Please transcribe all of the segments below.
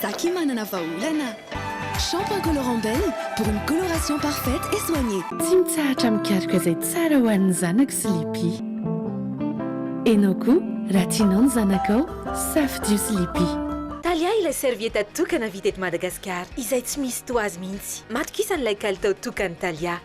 Za ki manana vahaolana. Shampoing colorant Belle pour une coloration parfaite et soignée. Tsy mitsahatra mikaroka izay tsara ho an'ny zanako Sleepy. Enao koa raha tianao ny zanakao, safidio Sleepy. Thalia ilay serviette tokana vita eto Madagasikara izay tsy misy toa azy mihitsy. Matokisa an'ilay kalitao tokan'i Thalia.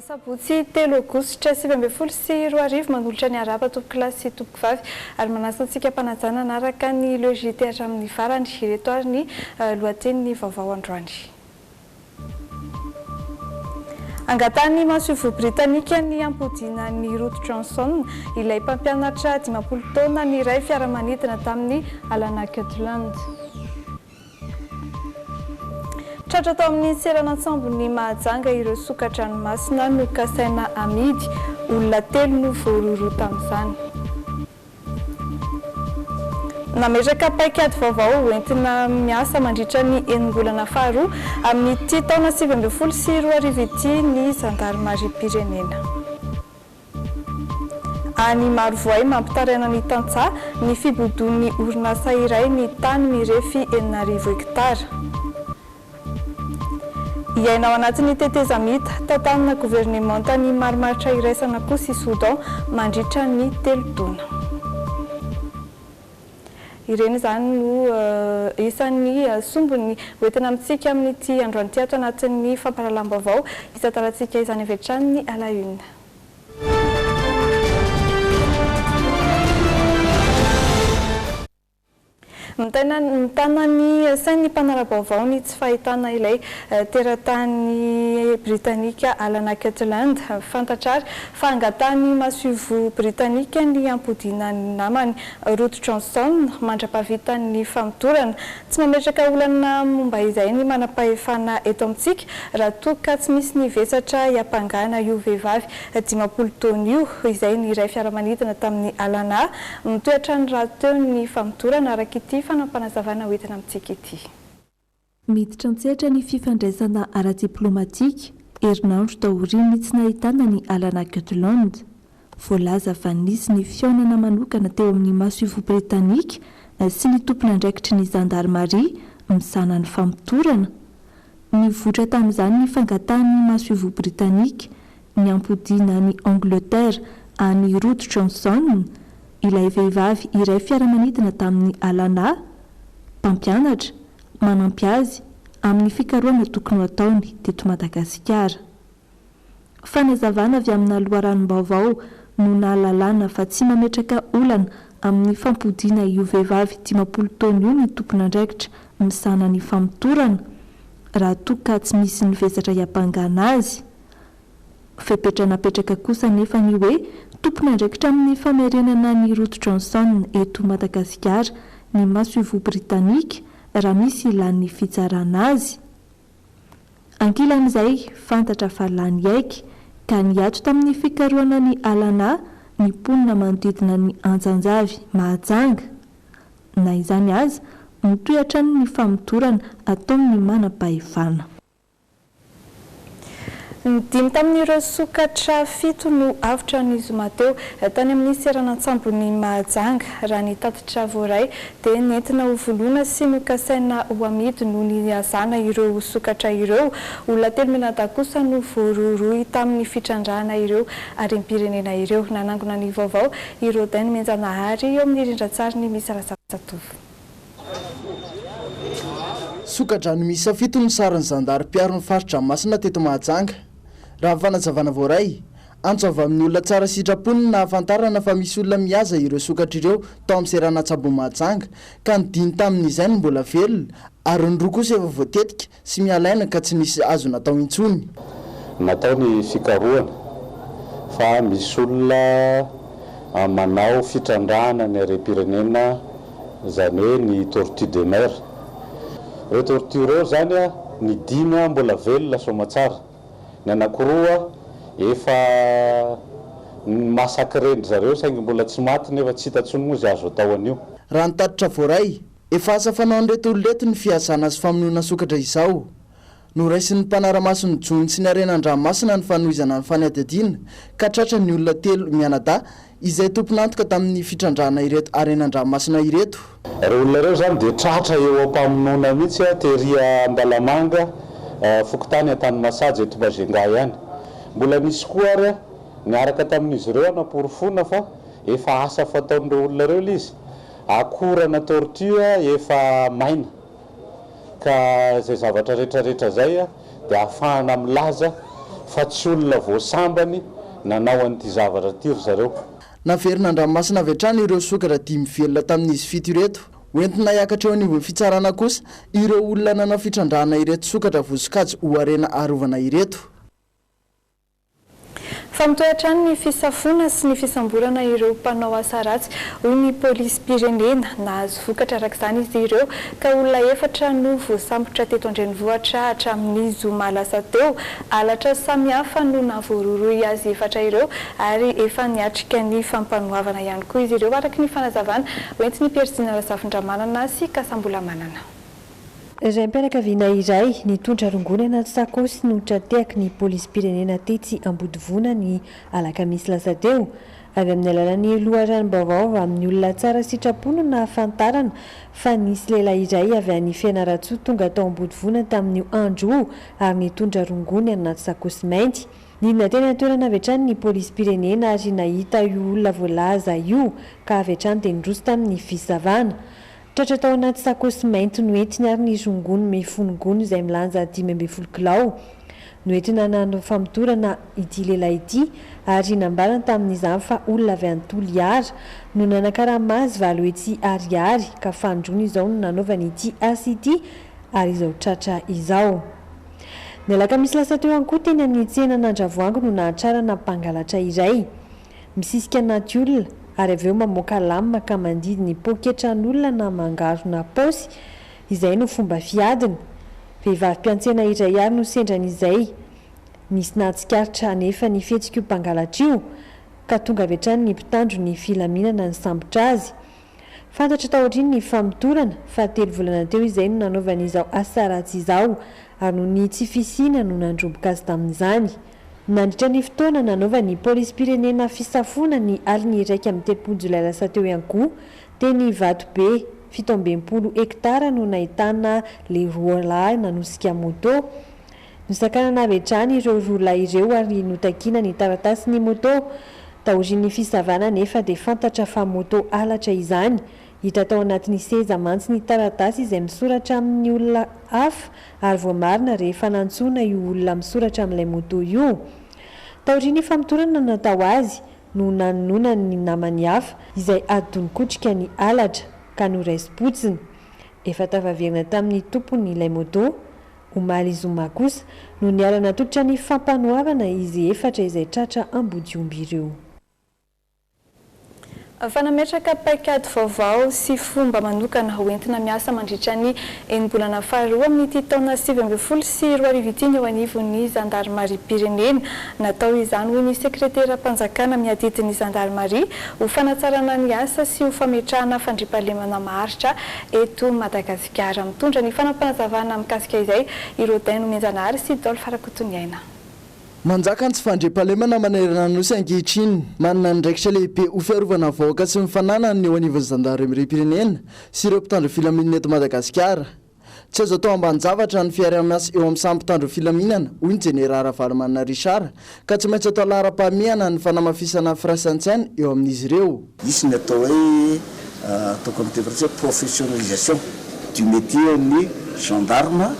Sabotsy telo aogositra sivy ambin'ny folo sy roa arivo, manolotra ny harapa tompoko lahy sy tompoko vavy ary manasa antsika mpanajana hanaraka ny logite hatramin'ny farany. Ireto ary ny lohatenin'ny vaovao androany. Angatahan'ny masoivoho Britanika ny hampodiana an'i Ruth Johnson, ilay mpampianatra dimampolo taona niray fiaramanidina tamin'i Alana Kirtland. Tratra tao amin'ny seranan-tsambon'i Mahajanga ireo soka-dranomasina nokasaina hamidy, olona telo no voarohirohy tamin'izany. Nametraka paikady vaovao hoentina miasa mandritra ny enim-bolana faharoa amin'ity taona sivy ambin'ny folo sy roa arivo ity ny zandarimariam-pirenena. Any Marovoay, mampitaraina ny tantsaha ny fibodoan'ny orinasa iray ny tany mirefy enina arivo hektara. Hiaina ao anatin'ny tetezamita, tantanina governemanta ny marimaritra iraisana Akoho sy Soudan mandritra ny telo taona. Ireny izany no isan'ny sombiny hoentina amintsika amin'ity androany ity ato anatin'ny fampahalalam-baovao isan-taonantsika izany avy hatrany ny à la une. Mitana ny sain'ny mpanara-baovao ny tsy fahitana ilay teratany britanika Alana Kirtland. Fantatra àry fa angatahan'ny masoivoho britanika ny hampodiana ny namany Ruth Johnson mandra-pahavitan'ny ny famotorana. Tsy mametraka olana momba izay ny manam-pahefana eto amintsika raha toa ka tsy misy ny vesatra hiampangana io vehivavy dimampolo taona io, izay niray fiaramanidina tamin'i Alana. Mitohy hatrany rahateo ny famodorana, araka ity fanapanazavana hoentina amintsika ity. Miditra an-tsehatra ny fifandraisana ara-diplaomatika, herinandro taorian'ny tsy nahitana an'i Alana Gutland. Voalaza fa nisy ny fihaonana manokana teo amin'ny masoivoho Britanika sy ny tompon'andraikitry ny zandarimaria misahana ny famotorana. Nivoitra tamin'izany ny fangatahan'ny masoivoho Britanika, niampodiana an'i Angleterre an'i Ruth Johnson, ilay vehivavy iray fiaramanidina tamin'i Alana, mpampianatra, manampy azy amin'ny fikarohana tokony ho ataony teto Madagasikara. Fanazavana avy amina loharanom-baovao no nahalalana fa tsy mametraka olana amin'ny fampodiana io vehivavy dimampolo taona io ny tompon'andraikitra misahana ny famotorana, raha toa ka tsy misy ny vesatra hiampangana azy. Fepetra napetraka kosa anefa ny hoe tompon'andraikitra amin'ny famerenana ny rojo Johnson eto Madagasikara ny masoivoho Britanika raha misy hilan'ny fitsarana azy. Ankilan'izay, fantatra fa lany haiky ka niato tamin'ny fikarohana ny alanà ny mponina manodidina ny Antsanjavy Mahajanga. Na izany aza, mitohy hatrany ny famotorana ataon'ny manam-pahefana. Ny dimy tamin'ireo sokatra fito no avotra ny zoma teo, tany amin'ny seranan-tsambon'i Mahajanga. Raha ny tatitra voaray, dia nentina hovoloina sy nokasaina ho amidy no nihazàna ireo sokatra ireo. Olona telo mianadahy kosa no voarohirohy tamin'ny fitrandrahana ireo harem-pirenena ireo. Nanangona ny vaovao i Rodin Menjanahary eo amin'ny rindran-tsariny misy Razafy Jatovo. Soka-drano miisa fito no saron'ny zandary mpiaro ny fari-dranomasina teto Mahajanga. Raha ny fanazavana voaray, antso avy amin'ny olona tsara sitrapo no nahafantarana fa misy olona mihaza ireo sokatra ireo tao amin'ny seranantsabon'i Mahajanga ka nidiny tamin'izay ny mbola velona ary ny roa kosa efa voatetika Tsy mihalaina ka tsy nisy azo natao intsony. Natao ny fikarohana fa misy olona manao fitrandrahana ny harem-pirenena izany hoe ny tortue de mer. Ireo tortue ireo izany ny dimy mbola velona soamatsara, ny anankiroa efa massacrer-ndry zareo saingy mbola tsy maty nefa tsy hita intsony moa izay azo atao an'io. Raha ny tatitra voaray Efa asa fanaon'ireto olona ireto ny fihazana sy famonoana sokatra izao. Noraisin'ny mpanara-maso ny jono sy ny harena an-dranomasina ny fanohizana ny fanadihadiana ka tratra ny olona telo mianadahy izay tompon'antoka tamin'ny fitrandrahana ireto harena an-dranomasina ireto. Ireo olona ireo izany dia tratra eo am-pamonoana mihitsy tery Andalamanga, fokontany Antanimasaja eto Majunga ihany. Mbola nisy koa ary niaraka tamin'izy ireo hanaporofoana fa efa asa fataon'ireo olona ireo ilay izy. Akorana tortue efa maina ka izay zavatra retraretra izay dia ahafahana milaza fa tsy olona voasambany nanao an'ity zavatra ity ry zareo. Naverina an-dranomasina avy hatrany ireo sokatra dimy velona tamin'izy fito ireto. Hoentina hiakatra eo anivon'ny fitsarana kosa ireo olona nanao fitrandrahana ireto sokatra vosokajy ho harena arovana ireto. Fa mitohy hatrany ny fisafoana sy ny fisamborana ireo mpanao asa ratsy, hoy ny polisim-pirenena. Nahazo vokatra araka izany izy ireo ka olona efatra no voasambotra teto an-drenivohitra hatramin'ny zoma lasa teo. Halatra samihafa no nahavoarohirohy azy efatra ireo ary efa niatrika ny fampanoavana ihany koa izy ireo, araka ny fanazavana hoentin'i Pierre Zina Razafindramanana sy Kasambolamanana. Raim-pianakaviana iray nitondra rongony anaty sakaosy no tra-tehaky ny polisim-pirenena tetsy Ambodivona ny alakamisy lasa teo. Avy amin'ny alalan'ny loharanom-baovao avy amin'ny olona tsara sitrapo no nahafantarana fa nisy lehilahy iray avy any Fianarantsoa tonga tao Ambodivona tamin'io andro io ary nitondra rongony anaty sakaosy mainty. Nidina teny an-toerana avy hatrany ny polisim-pirenena ary nahita io olona voalaza io ka avy hatrany dia niroso tamin'ny fisavana. Tratra tao anaty sakosy mainty noentiny ary ny zongony mifono gony izay milanja dimy ambin'ny folo kilao. Noentina nanao famotorana ity lehilahy ity ary nambarany tamin'izany fa olona avy any Toliara no nanakarama azy valo hetsy ariary ka fanindroany izao no nanaovany ity asa ity ary izao tratra izao. Ny alakamisy lasa teo ihany koa teny amin'ny tsenan'Andravoahangy no nahatrarana mpangalatra iray. Misisika anaty olona ary avy eo mamoaka lame ka mandidy ny poketran'olona na mangarona paosy, izay no fomba fiadiny. Vehivavy mpiantsena iray àry no sendra an'izay. Nisy nahatsikaritra anefa ny fihetsik'io mpangalatra io, ka tonga avy hatrany ny mpitandro ny filaminana nisambotra azy. Fantatro taorian'ny famotorana fa telo volana teo izay no nanaovany izao asa ratsy izao ary noho ny tsy fisiana no nandromboka azy tamin'izany. Nandritra ny fotoana nanaovan'ny polisim-pirenena fisafoana ny alin'ny iraika amby telopolo jolay lasa teo ihany koa dia ny vatobe fito amby enimpolo hektara no nahitana ilay roalahy nanosika moto Nosakanana avy hatrany ireo roa lahy ireo ary notakiana ny taratasin'ny moto. Taorian'ny fisavana anefa dia fantatra fa moto halatra izany. Hita tao anatin'ny seza mantsy ny taratasy izay misoratra amin'ny olona hafa ary voamarina rehefa nantsoina io olona misoratra amin'ilay moto io. Taorian'ny famotorana natao azy no nanononany ny namany hafa izay ady donin-kotrika ny halatra ka noraisim-potsiny. Efa tafaverina tamin'ny tompony ilay moto. Omaly zoma kosa no niara-natolotra ny fampanoavana izy efatra izay tratra ambodiomby ireo. Fa nametraka paikady vaovao sy fomba manokana ho entina miasa mandritra ny enim-bolana faharoa amin'ity taona sivy ambin'ny folo sy roa arivo ity ny eo anivon'ny zandarimariam-pirenena. Natao izany, hoy ny sekreteram-panjakana miadidy ny zandarimaria, ho fanatsarana ny asa sy ho fametrahana fandriampahalemana maharitra eto Madagasikara. Sigara mitondra ny fanapanazavana mikasika izay i Rodin Nomenjanahary sy Dolf Rakotoniaina. Manjaka ny tsy fandriampahalemana manerana ny Nosy ankehitriny. Manana andraikitra lehibe ho fiarovana ny vahoaka sy ny fananany ny eo anivon'ny zandarimeriam-pirenena sy ireo mpitandro filaminana eto Madagasikara. Tsy azo atao ambanin-javatra ny fiaraha-miasa eo amin'ny samy mpitandro filaminana, hoy ny Jeneraly Ravalomanana Richard, ka tsy maintsy atao laharam-pahamehana ny fanamafisana firaisan-tsaina eo amin'izy ireo. Hisy ny atao hoe, ataoko amin'ny teny frantsay hoe professionnalisation du métier ny gendarme,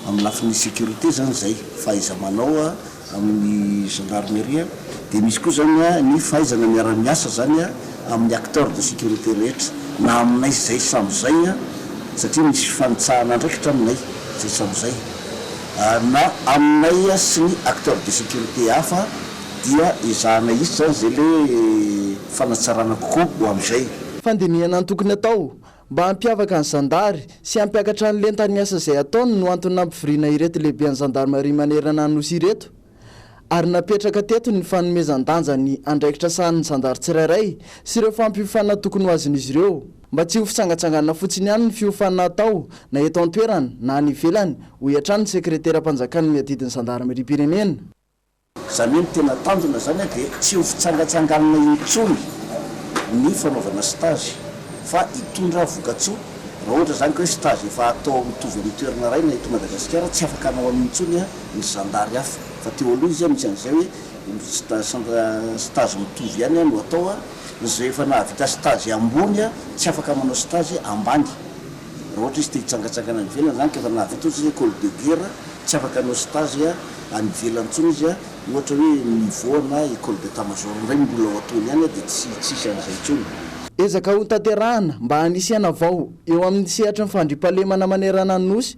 amin'ny lafiny sécurité izany izay, fahaiza-manao amin'ny gendarmerie, dia misy koa izany ny fahaizana miara-miasa izany amin'ny acteurs de sécurité rehetra, na aminay izay samy izay, satria misy fifanitsahana andraikitra aminay izay samy izay. Ary na aminay sy ny acteurs de sécurité hafa dia ezahana hisy zany zay le fanatsarana kokoa ho amin'izay. Fandinihana antokony atao, mba hampiavaka ny zandary sy hampiakatra ny lentan'ny asa izay ataony no antony nampivoriana ireto lehiben'ny zandarimaria manerana ny Nosy ireto. ary napetraka teto ny fanomezan-danja ny andraikitra sahanin'ny zandary tsirairay sy ireo fampiofanana tokony ho azon'izy ireo, mba tsy ho fitsangatsanganana fotsiny ihany ny fiofanana atao na eto an-toerana na any ivelany, hoy hatrany ny sekreteram-panjakana miadidy ny zandarimeriam-pirenena. Izany hoe ny tena tanjona izany dia tsy ho fitsangatsanganana intsony ny fanaovana stage fa hitondra vokatsoa, raha ohatra izany ka hoe stage efa atao mitovy amin'ny toerana iray na eto Madagasikara tsy afaka hanao an'io intsony ny zandary hafa fa teo aloha izy a misy an'izay hoe stage mitovy ihany a no atao a, izay efa nahavita stage ambony a tsy afaka manao stage ambany raha ohatra izy te hitsangatsangana any ivelany zany ka efa nahavita ohatra izy hoe ecole de guerre tsy afaka hanao stage a any ivelany tsony izy a ohatra hoe niveau ana ecole d'etat major indray no mbola ho ataony any a de tsy tsy hisy an'izay intsony. Ezaka hotanterahana mba hanisihana vao eo amin'ny sehatry ny fandriampahalemana manerana ny Nosy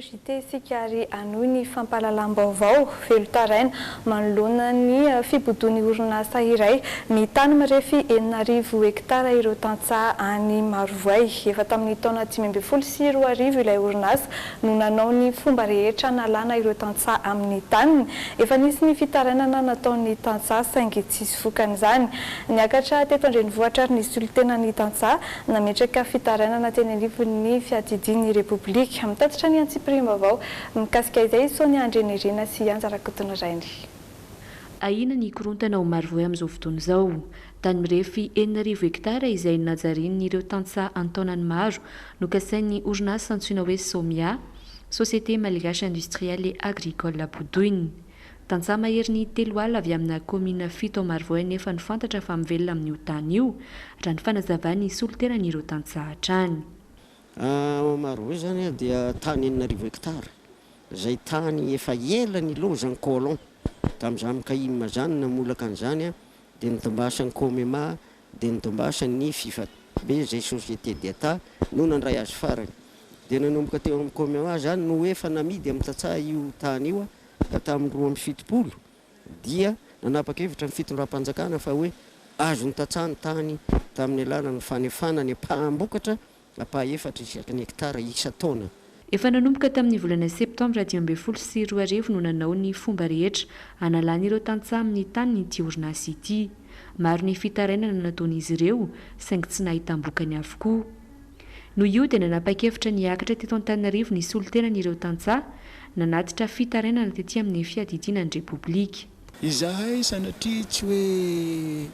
JT isika ary hanohy ny fampahalalam-baovao velon-taraina manoloana ny fibodoan'ny orinasa iray ny tany mirefy enina arivo hektara ireo tantsaha any Marovoay. Efa tamin'ny taona dimy ambin'ny folo sy roa arivo ilay orinasa no nanao ny fomba rehetra hanalana ireo tantsaha amin'ny taniny. Efa nisy ny fitarainana nataon'ny tantsaha saingy tsisy vokany izany. Niakatra teto an-drenivohitra ary nisolotena ny tantsaha. Nametraka fitarainana teny anivon'ny fiadidian'ny Repoblika. Mitatitra ny antsipiriam-baovao mikasika izay i Sonia Andrianirina sy i Anja Rakotonirainy. Ahiana ny hikorontana ao Marovoay amin'izao fotoana izao. Tany mirefy enina arivo hektara izay najarian'ireo tantsaha an-taonany maro no kasain'ny orinasa antsoina hoe Somia, Société Malgache Industrielle et Agricole bodoiny. Tantsaha maherin'ny telo ala avy amina kaominina fito ao Marivoay anefa no fantatra fa mivelona amin'io tany io, raha ny fanazavan'ny solontenan'ireo tantsaha hatrany. Ao Marivoay izany dia tany enina arivo hektara izay tany efa ela nilaozan'ny colon tamin'izany Kayima izany namolaka an'izany dia nidimbasan'ny Comema, dia nidimbasan'ny Fifa be izay société d'Etat no nandray azy farany. Dia nanomboka teo amin'ny Comema izany no efa namidy amin'ny tantsaha io tany io ka tamin'ny roa amby fitopolo dia nanapa-kevitra ny fitondram-panjakana fa hoe azon'ny tantsaha ny tany tamin'ny alalan'ny fanefana ny mpambokatra Apaha efatra isaky ny hektara isan-taona. Efa nanomboka tamin'ny volana septambra dimy ambin'ny folo sy roa arivo no nanao ny fomba rehetra hanalan'ireo tantsaha amin'ny taniny ity orinasa ity. Maro ny fitarainana nataon'izy ireo, saingy tsy nahitam-bokany avokoa. Noho io dia nanapa-kevitra ny hiakatra teto Antananarivo ny solontenan'ireo tantsaha, nanatitra fitarainana tety amin'ny fiadidiana ny Repoblika. Izahay sanatria tsy hoe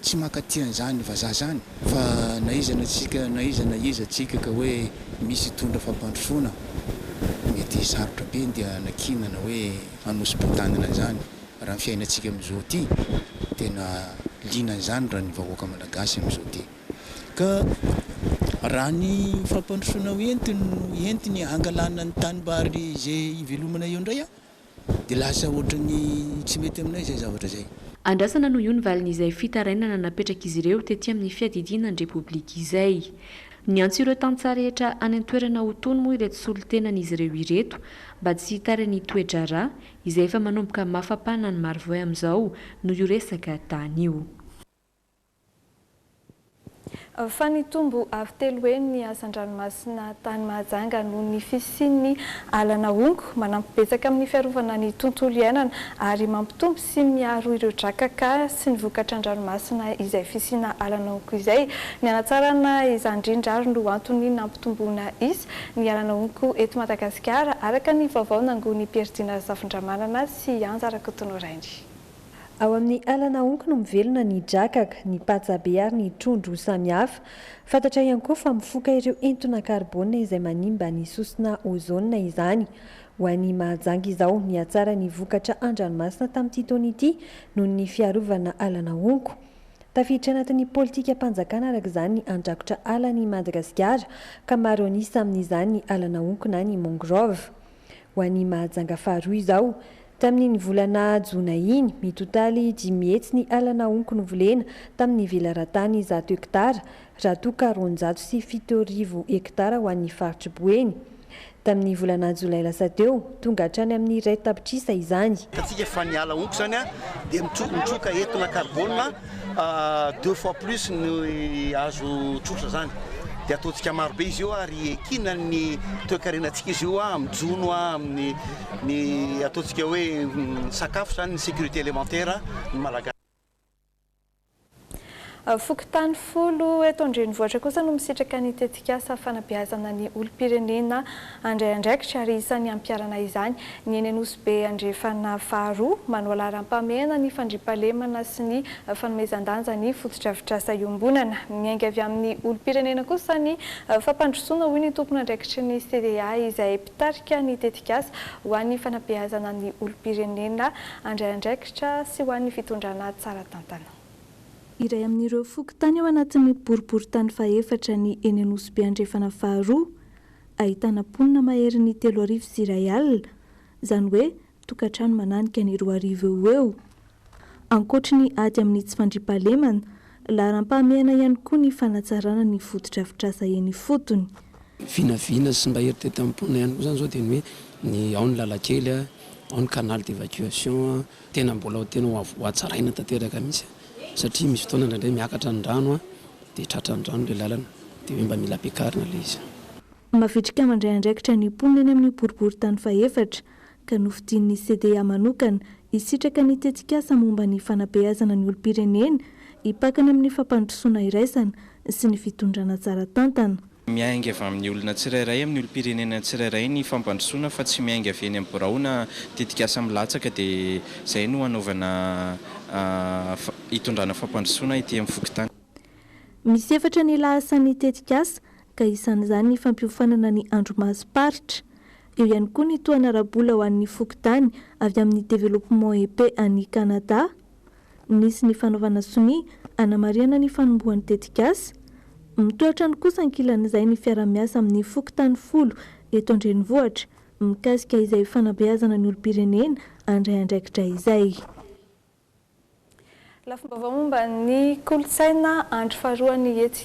tsy mankaty an'izany vazaha izany fa na iza na tsika na iza na iza tsika ka hoe misy hitondra fampandrosoana mety hisarotra be dia hanakiana na hoe hanosi-poa-tanana an'izany raha ny fiainantsika amin'izao ity tena liana an'izany raha ny vahoaka malagasy amin'izao ity ka raha ny fampandrosoana ho entiny no entiny hangalana ny tanimbary izay hivelomana eo indray an Dia lasa ohatran'ny tsy mety aminay izay zavatra izay. Andrasana noho io ny valin'izay fitarainana napetrak'izy ireo tety amin'ny fiadidiana ny Repoblika izay. Niantso ireo tantsaha rehetra any an-toerana ho tony moa ireto solontenan'izy ireo ireto mba tsy hitary ny toe-draharaha izay efa manomboka mafapana ny maro vao amin'izao noho io resaka tany io. Fa nitombo avo telo heny ny hazan-dranomasina tany Mahajanga noho ny fisian'ny ala nahongo. Manampy betsaka amin'ny fiarovana ny tontolo iainana ary mampitombo sy miaro ireo drakaka sy ny vokatra an-dranomasina izay fisiana ala nahongo izay. Ny hanatsarana izany indrindra ary no antony nampitomboana isa ny ala nahongo eto Madagasikara, araka ny vaovao nangonin'i Pierre Dina Razafindramanana sy Anja Rakotonorainy. Ao amin'ny ala nahonky no mivelona ny drakaka, ny patsabe ary ny trondro samihafa. Fantatra ihany koa fa mifoka ireo entona karbôna izay manimba ny sosona ôzôna izany. Ho an'i Mahajanga izao, nihatsara ny vokatra an-dranomasina tamin'ity taona ity noho ny fiarovana ala nahonko. Tafiditra anatin'ny politikam-panjakana araka izany ny handrakotra ala an'i Madagasikara ka maro an'isa amin'izany ny ala nahonko na ny mangrove. Ho an'i Mahajanga faharoa izao. Tamin'iny volana jona iny, mitotaly dimy hetsy ny ala naonko novolena tamin'ny velaran-tany zato hektara, raha toa ka roanjato sy fito arivo hektara ho an'ny faritr'i Boeny. Tamin'ny volana jolay lasa teo, tonga hatrany amin'ny iray tapitrisa izany. Hitantsika fa ny ala onko izany dia mitroka entona karbôna. deux fois plus ny azo tsotra zany de ataontsika maro be izy io ary ekina ny toekarenantsika izy io a mijono a amin'ny ny ataontsika hoe sakafo zany ny sécurité élémentaire ny malagasy Fokontany folo eto an-drenivohitra kosa no misitraka ny tetikasa. tetikasa fanabeazana ny olom-pirenena handray andraikitra ary isan'ny hampiharana izany ny eny Anosibe Andrefana faharoa, manao laharam-pahamehana ny fandriampahalemana sy ny fanomezan-danja ny fotodrafitrasa iombonana. Miainga avy amin'ny olom-pirenena kosa ny fampandrosoana, hoy ny tompon'andraikitry ny CDA izay mpitarika ny tetikasa ho an'ny fanabeazana ny olom-pirenena handray andraikitra sy ho an'ny fitondrana tsara tantana. Iray amin'ireo fokontany ao anatin'ny boriborintany fahefatra ny eny Anosibe Andrefana faharoa, ahitana mponina maherin'ny telo arivo sy iray alina, izany hoe tokantrano mananika ny roa arivo eo ho eo. Ankoatry ny ady amin'ny tsy fandriampahalemana, laharam-pahamehana ihany koa ny fanatsarana ny fotodrafitrasa eny ifotony. Vinavina sy mba eritreretan'ny mponina ihany koa izany izao dia ny hoe ny ao ny lalan-kely, ao ny canal d'évacuation. Tena mbola tena ho avy hohatsaraina tanteraka mihitsy satria misy fotoana indraindray miakatra ny rano dia tratran'ny rano ilay lalana dia hoe mba mila ampiakarina ilay izy. Mavitrika mandray andraikitra ny mponina eny amin'ny boriborintany fahefatra ka nofidin'ny CDA manokana hisitraka ny tetikasa momba ny fanabeazana ny olom-pirenena hipakana amin'ny fampandrosoana iraisana sy ny fitondrana tsara tantana. Miainga avy amin'ny olona tsirairay, amin'ny olom-pirenena tsirairay ny fampandrosoana fa tsy miainga avy eny amin'ny birao na tetikasa milatsaka dia izay no hanaovana hitondrana fampandrosoana ety amin'ny fokontany. Misy efatra ny lahasan'ny tetikasa ka isan'izany ny fampiofanana ny andrimasom-paritra. Eo ihany koa ny tohana ara-bola ho an'ny fokontany avy amin'ny Développement Épée any Canada, Nisy ny fanaovana sonia hanamarihana ny fanombohan'ny tetikasa. Mitohy hatrany kosa ankilan'izay ny fiaraha-miasa amin'ny fokontany folo eto an-drenivohitra mikasika izay fanabeazana ny olom-pirenena handray andraikitra izay. Lafim-baovao momba ny kolontsaina andro faharoa ny etsy.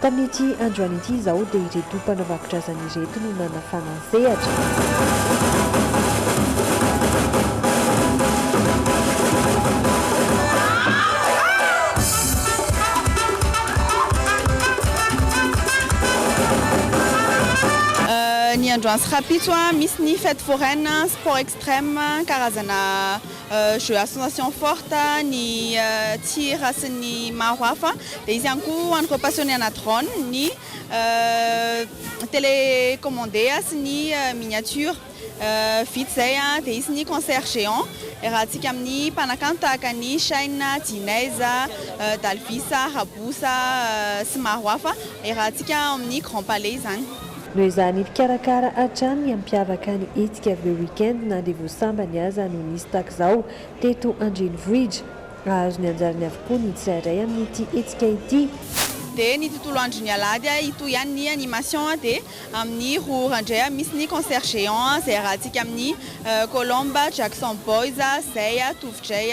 Tamin'ity androany ity izao dia ireto mpanavakondrazana ireto no nanafana ny sehatra. Ny androany sy rahampitso misy ny fete foraine, sport extreme, karazana. Jeux association forte ny tir sy ny maro hafa dia izy ihany koa ho an'ireo passionné ana drone ny télé commandé sy ny miniature vita izay dia hisy ny concert géant iarahantsika amin'ny mpanakanto tahaka ny Shine, Djinez, Dalvis, Raboussa sy maro hafa iarahantsika ao amin'ny grand palais izany. Noho izany, mpikarakara hatrany ny hampiavaka ny hetsika avy eo week-end na dia vao sambany aza no nisy tahak'izao teto an-drenivohitra. Hahazo ny anjarany avokoa ny tsirairay amin'ity hetsika ity. Dia ny tontolo andron'ny alahady hitohy ihany ny animation dia amin'ny roa ora indray misy ny concert géant izay arahantsika amin'ny Colombe, Jackson Boys, Zay, Tovo Jay,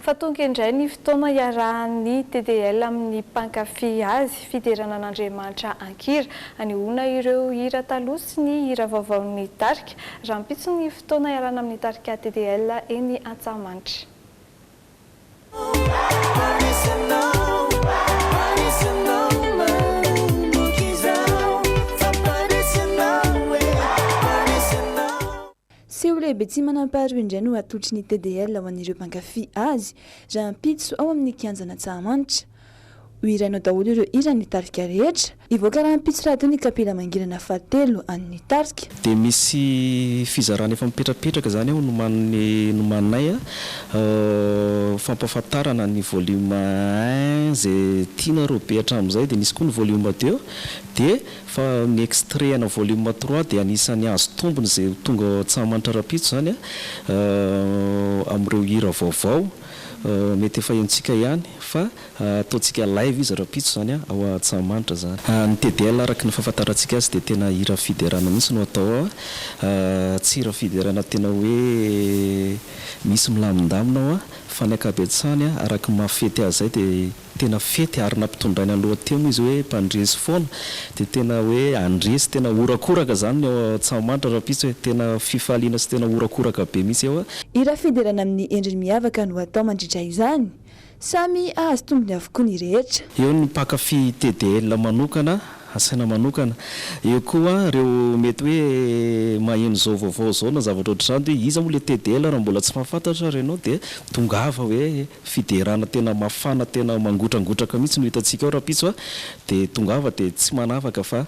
Fa tonga indray ny fotoana hiarahan'ny TDL amin'ny mpankafy azy, fiderana an'Andriamanitra an-kira. Hanehoana ireo hira taloha sy ny hira vaovaon'ny tarika. Rahampitso ny fotoana hiarahana amin'ny tarika TDL eny Antsahamanitra. Seho lehibe tsy manam-paharoa indray no atolotry ny TDL ho an'ireo mpankafy azy, rahampitso ao amin'ny Kianjan' Antsahamanitra. Ho hirainao daholo ireo hiran'ny tarika rehetra. Hivoaka rahampitso rahateo ny kapila mangirana fahatelo an'ny tarika. Dia misy fizarana efa mipetrapetraka izany ao nomaniny nomaninay a, fampahafantarana ny volume un izay tianareo be hatramin'izay dia misy koa ny volume deux dia. Fa ny extraits-na volume trois dia anisan'ny hahazo tombony izay ho tonga ao Antsahamanitra rahampitso izany amin'ireo hira vaovao. Mety efa henontsika ihany fa ataontsika live izy rahampitso izany ao Antsahamanitra izany. Ny TDL araka ny fahafantarantsika azy dia tena hira fiderana mihitsy no atao ao. Tsy hira fiderana tena hoe misy milamindamina ao fa ny ankabetsahany araka ny maha fety azy izay dia tena fety ary nampitondraina lohateny izy hoe mpandresy foana dia tena hoe handresy tena horakoraka izany ny ao Antsahamanitra rahampitso e! tena fifaliana sy tena horakoraka be mihitsy eo a! Hira fiderana amin'ny endriny miavaka no atao mandritra izany. Samy hahazo tombony avokoa ny rehetra. Eo ny mpankafy TDL manokana, asaina manokana. Eo koa ireo mety hoe maheno izao vaovao izao na zavatra ohatr'izany dia hoe iza moa ilay TDL raha mbola tsy mahafantatra ary ianao dia tongava hoe. Fiderana tena mafana tena mangotrangotraka mihitsy no hitantsika ao rahampitso a! dia tongava dia tsy manavaka fa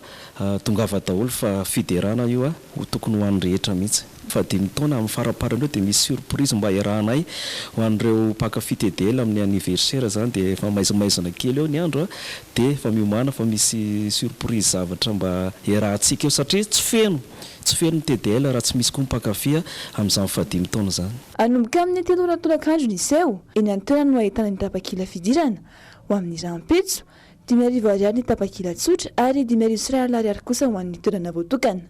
tongava daholo fa fiderana io ho tokony ho an'ny rehetra mihitsy. Fahadimy taona amin'ny faraparany eo dia misy surprise mba hiarahanay ho an'ireo mpankafy TDL amin'ny anniversaire izany dia efa maizimaizina kely eo ny andro a! dia efa miomàna fa misy surprise zavatra mba hiarahantsika eo satria tsy feno tsy feno ny TDL raha tsy misy koa ny mpankafy amin'izany fahadimy taona izany. Hanomboka amin'ny telo ora tolakandro ny seho, eny an-toerana no ahitana ny tapakila fidirana ho amin'ny rahampitso, dimy arivo ariary ny tapakila tsotra ary dimy arivo sy iray alina ariary kosa ho an'ny toerana voatokana.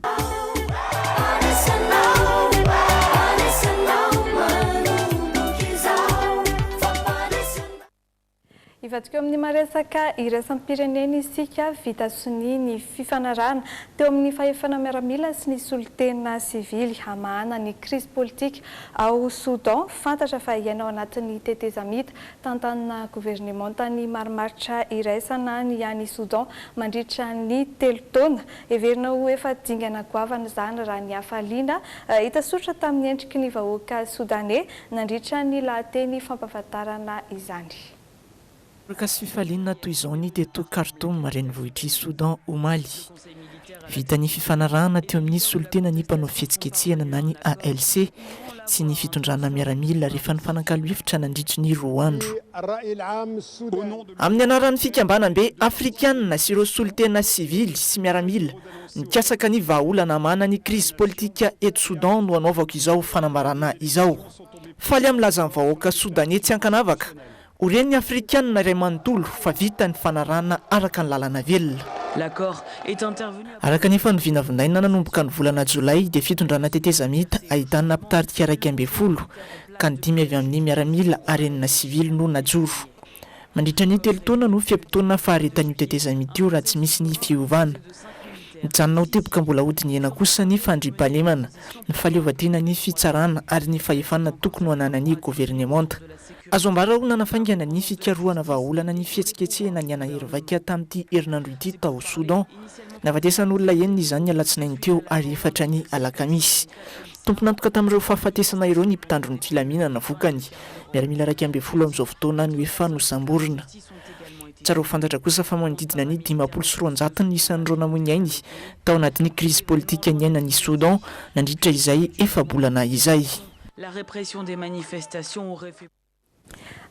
Hivadika eo amin'ny maha-resaka iraisam-pirenena isika, vita sonia ny fifanarahana teo amin'ny fahefana miaramila sy ny solontena sivily hamahana ny krizy politika ao Soudan. Fantatra fa hiaina ao anatin'ny tetezamita tantanina governemanta ny marimaritra iraisana ny any Soudan mandritra ny telo taona. Heverina ho efa dingana goavana izany raha ny hafaliana hita soritra tamin'ny endriky ny vahoaka Sodaney Nandritra ny lahateny fampahafantarana izany. Makasy fifaliana toy izao ny teto Khartoum, renivohitr'i Soudan, omaly. Vita ny fifanarahana teo amin'ny solontenan'ny mpanao fihetsiketsehana na ny ALC sy ny fitondrana miaramila rehefa nifanakalo hevitra nandritry ny roa andro. Amin'ny anaran'ny fikambanam-be afrikanina sy ireo solontena sivily sy miaramila, Nikatsaka ny vahaolana hamahana ny krizy politika eto Soudan no anaovako izao fanambarana izao. Faly amin'ny lazan'ny vahoaka Sodaney tsy ankanavaka, ho ren'ny Afrikana iray manontolo fa vita ny fanarahana araka ny lalana velona. Araka ny efa novinavinaina nanomboka ny volana Jolay dia fitondrana tetezamita ahitana mpitarika iraika ambin'ny folo ka ny dimy avy amin'ny miaramila ary enina sivily no najoro. Mandritra ny telo taona no fe-potoana faharetan'io tetezamita io raha tsy misy ny fiovana. Mijanona ho teboka mbola hodinihana kosa ny fandriampahalemana, ny fahaleovantenan'ny fitsarana ary ny fahefana tokony ho ananan'ny governemanta. Azo ambara ho nanafaingana ny fikarohana vahaolana ny fihetsiketsehana nihanahery vaika tamin'ity herinandro ity tao Soudan. Nahafatesan'olona enina izany ny alatsinainy teo ary efatra ny alakamisy. Tompon'antoka tamin'ireo fahafatesana ireo ny mpitandro ny filaminana vokany. Miaramila iraika ambin'ny folo amin'izao fotoana no efa nosamborina. Tsara ho fantatra kosa fa manodidina ny dimampolo sy roanjato ny isan'ireo namoy ny ainy tao anatin'ny krizy politika niainan'i Soudan nandritra izay efa-bolana izay.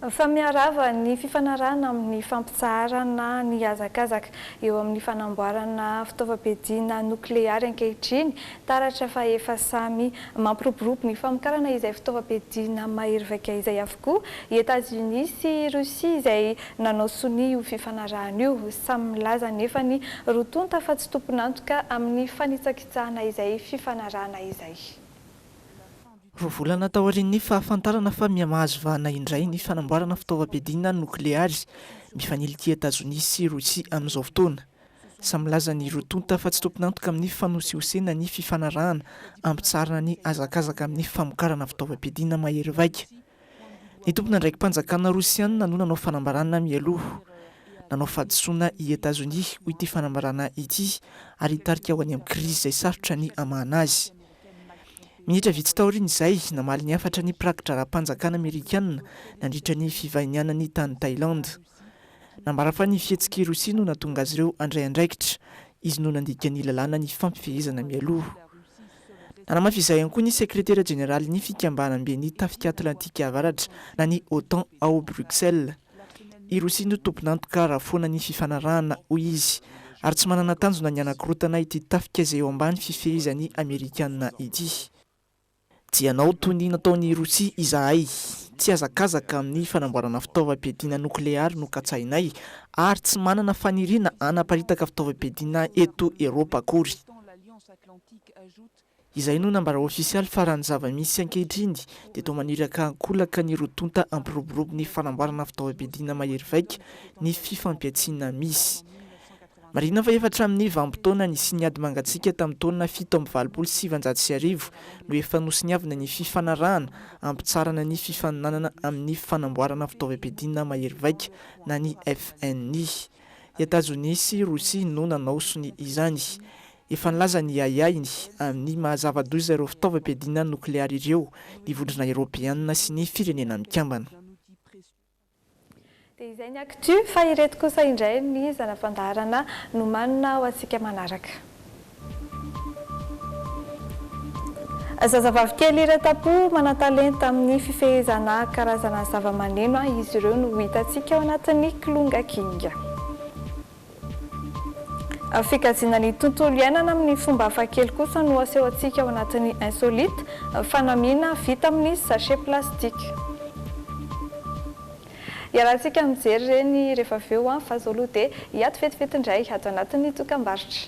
Fa miharava ny fifanarahana amin'ny fampitsaharana ny hazakazaka eo amin'ny fanamboarana fitaovam-piadiana nokleary ankehitriny, taratra fa efa samy mampiroborobo ny famokarana izay fitaovam-piadiana mahery vaika izay avokoa i Etazonia sy Rosia izay nanao sonia io fifanarahana io. Samy milaza anefa ny roa tonta fa tsy tompon'antoka amin'ny fanitsakitsahana izay fifanarahana izay. Roa volana taorian'ny fahafantarana fa miha-mahazo vahana indray ny fanamboarana fitaovam-piadiana nokleary, mifanila ity Etazonia sy Rosia amin'izao fotoana. Samy milaza ny roa tonta fa tsy tompon'antoka amin'ny fanosihosena ny fifanarahana hampitsarana ny hazakazaka amin'ny famokarana fitaovam-piadiana mahery vaika. Ny tompon'andraiki-panjakana Rosiana no nanao fanambarana mialoha. Nanao fahadisoana i Etazonia, hoy ity fanambarana ity, ary hitarika ho any amin'ny krizy izay sarotra ny hamahana azy. Minitra vitsy taorian'izay, namaly ny hafatra ny mpiraki-draharaham-panjakana amerikanina nandritra ny fivahinianany tany Thailand. Nambara fa ny fihetsik'i Rosia no nahatonga azy ireo handray andraikitra, izy no nandika ny lalàna ny fifampifehezana mialoha. Nanamafy izay ihany koa ny sekretera jeneralin'ny Fikambanamben'ny Tafika Atlantika Avaratra na ny OTAN ao Bruxelles. I Rossy no tompon'antoka raha foana ny fifanarahana, hoy izy, ary tsy manana tanjona ny hanakorotana ity tafika izay eo ambany fifehezan'ny Amerikana ity. Tsy hanao toy ny nataon'i Rossy izahay. Tsy hazakazaka amin'ny fanamboarana fitaovam-piadiana nokleary nokatsahinay, ary tsy manana faniriana hanaparitaka fitaovam-piadiana eto Eropa akory. Izay no nambara ofisialy fa raha ny zava-misy ankehitriny dia toa maniraka an-kolaka ny roa tonta hampiroborobo ny fanamboarana fitaovam-piadiana mahery vaika ny fifampihantsiana misy. Marihina fa efa hatramin'ny vanim-potoana nisian'ny ady mangatsiaka tamin'ny taona fito amby valopolo sy sivinjato sy arivo no efa nosoniavina ny fifanarahana hampitsarana ny fifaninanana amin'ny fanamboarana fitaovam-piadiana mahery vaika na ny FNI. I Etazonia sy Rosia no nanao sonia izany. Efa nilaza ny ahiahiny amin'ny maha zava-doza ireo fitaovam-piadiana nokleary ireo ny Vondrona Eoropeana sy ny Firenena Mikambana. Dia izay ny actu, fa ireto kosa indray ny zana-pandaharana nomanina ho antsika manaraka. Zazavavy kely iray tam-po manan-talenta amin'ny fifehezana karazana zava-maneno izy ireo no ho hitantsika ao anatin'ny Kilonga King. Fikajiana ny tontolo iainana amin'ny fomba hafakely kosa no asehontsika ao anatin'ny Insolite, fanamiana vita amin'ny sachet plastique. Iarahantsika mijery ireny rehefa avy eo an! Fa izao aloha dia hiato vetivety indray ato anatin'ny dokambarotra.